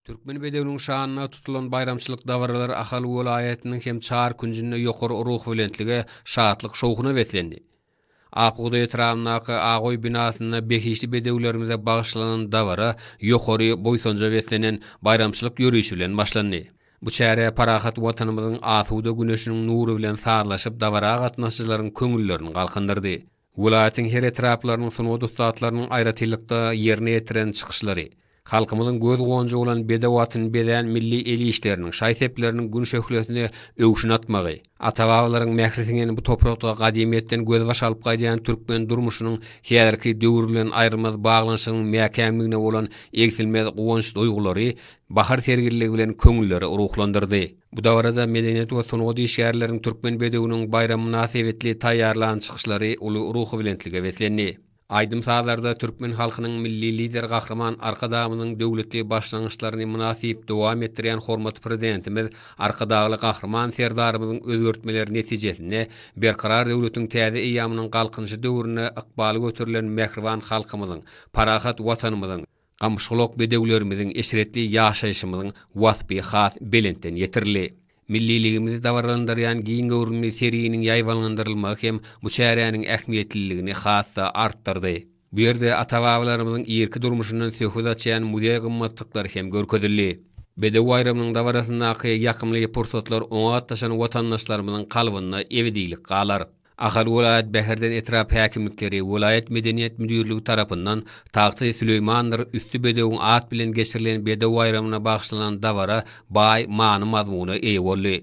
Türkmen bedewiniň şanyna tutulan baýramçylyk dabaralary Ahal welaýatynyň hem çar künjünde ýokary ruhubelentlige, şatlyk-şowhuna beslendi. Akbugdaý etrabyndaky Agoý binasynda behişdi bedewlerimize bagyşlanan dabara ýokary buýsanja beslenen baýramçylyk ýörişi bilen başlandy. Bu çäre parahat Watanymyzyň asuda güneşiniň nury bilen sazlaşyp dabara gatnaşyjylaryň köňüllerini galkyndyrdy. Welaýatyň her etraplarynyň sungat ussatlarynyň aýratynlykda ýerine ýetiren çykyşlary, halkymyzyň göz gonjy bolan bedew atyny bezän milli el işleriniň, şaý-sepleriniň gün şöhlesine öwşün atmagy, ata-babalaryň mähri siňen bu toprakda gadymyýetden gözbaş alyp gaýdýan türkmen durmuşynyň häzirki döwür bilen aýrylmaz baglanyşygynyň mäkämligine bolan egsilmez guwanç duýgulary bahar serginligi bilen köňülleri ruhlandyrdy. Bu dabarada medeniýet we sungat işgärleriniň Türkmen bedewiniň baýramy mynasybetli taýýarlan çykyşlary uly ruhubelentlige beslendi. Aýdym-sazlarda türkmen halkynyň Milli Lideri Gahryman Arkadagymyzyň döwletli başlangyçlaryny mynasyp dowam etdirýän hormatly Prezidentimiz Arkadagly Gahryman Serdarymyzyň özgertmeleri netijesinde Berkarar döwletiň täze eýýamynyň Galkynyşy döwründe ykbaly göterilen mähriban halkymyzyň, parahat Watanymyzyň Gamyşgulak bedewlerimiziň eşretli ýaşaýşymyzyň waspy has belentden ýetirildi. Milliligimizi dabaralandyrýan giň göwrümli serginiň ýaýbaňlandyrylmagy hem bu çäräniň ähmiýetliligini has-da artdyrdy. Bu ýerde ata-babalarymyzyň irki durmuşyndan söhbet açýan muzeý gymmatlyklary hem görkezildi. Bedew baýramynyň dabarasyndaky ýakymly pursatlar oňa gatnaşan watandaşlarymyzyň kalbynda ebedilik galar. Ahal welaýat Bäherden etrap häkimlikleri, welaýat medeniýet müdirligi tarapyndan Tagty Süleýmandyr üsti bedewiň at bilen geçirilen bedew baýramyna bagyşlanan dabara baý many-mazmuna eýe boldy.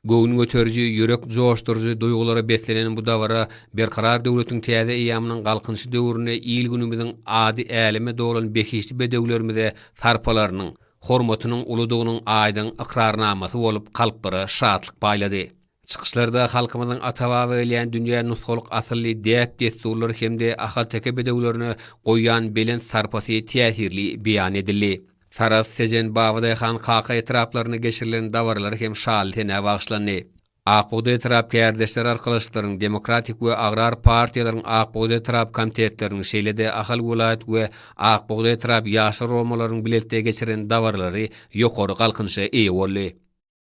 Göwün göteriji, ýürek joşduryjy duýgulara beslenen bu dabara Berkarar döwletiň täze eýýamynyň Galkynyşy döwründe il-günümiziň ady äleme dolan behişdi bedewlerimize sarpalarynyň, hormatynyň uludygynyň aýdyň ykrarnamasy bolup kalplara şatlyk paýlady. Çykyşlarda halkymyzyň ata-baba gelýän dünýä nusgalyk asylly däp-dessurlary hem-de ahalteke bedewlerine goýýan belent sarpasy täsirli beýan edildi. Sarahs, Tejen, Babadaýhan, Kaka etraplarynda geçirilen dabaralar hem şaly-senä bagyşlandy. Ak bugdaý etrap kärdeşler arkalaşyklarynyň, demokratik we agrar partiýalaryň Ak bugdaý etrap komitetleriniň, şeýle-de Ahal welaýat we Ak bugdaý etrap ýaşlar guramalarynyň bilelikde geçiren dabaralary ýokary galkynyşa eýe boldy.